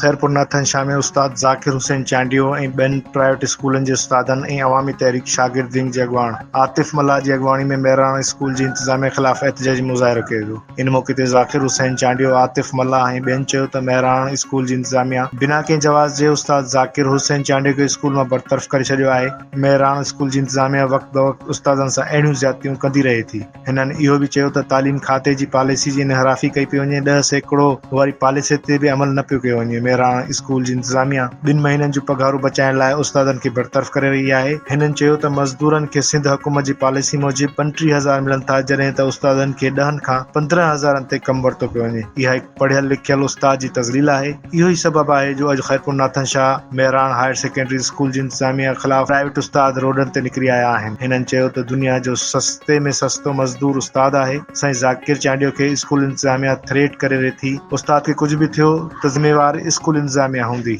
خيرپور ناٿن شاهه ۾ استاد ذاڪر حسين چانڊيو ۽ ٻين پرائيويٽ اسڪولن جي استادن ۽ عوامي تحريڪ شاگرد ونگ جي اڳواڻ عاطف ملاح جي اڳواڻي ۾ مهراڻ اسڪول جي انتظاميه خلاف احتجاجي مظاهرو ڪيو ويو ان موقعي تي ذاڪر حسين چانڊيو عاطف ملاح ۽ ٻين چيو ته مهراڻ اسڪول جي انتظاميه بنا ڪنهن جواز جي استاد ذاڪر حسين چانڊيو کي اسڪول مان برطرف ڪري ڇڏيو آهي مهراڻ اسڪول جي انتظاميا وقت بوقت استادن سان اهڙيون زيادتيون ڪندي رهي ٿي، هنن اهو به چيو ته تعليم کاتي جي پاليسي جي انحرافي ڪئي پئي وڃي، ڏهه سيڪڙو واري پاليسي تي به عمل نه پيو ڪيو وڃي، مهراڻ اسڪول جي انتظاميا ٻن مهينن جون پگهارون بچائڻ لاء استادن کي برطرف ڪري رهي آهي، هنن چيو ته مزدورن کي سنڌ حڪومت جي پاليسي موجب پنٽيهه هزار ملن ٿا جڏهن ته استادن کي ڏهن کان پندرهن هزارن تي ڪم ورتو پيو وڃي، اها هڪ. پڙهيل لکيل استاد جي تذليل آهي، اهو ئي سبب آهي جو اڄ Khairpur Nathan Shah Mehran higher secondary school جي انتظاميه خلاف پرائيويٽ استاد روڊن تي نڪري آيا آهن. هنن چيو ته دنيا جو سستي ۾ سستو مزدور استاد آهي، سائين ذاڪر چانڊيو کي اسڪول انتظاميه ٿريٽ ڪري رهي ٿي، استاد کي ڪجهه به ٿيو ته ذميوار اسڪول انتظاميه هوندي.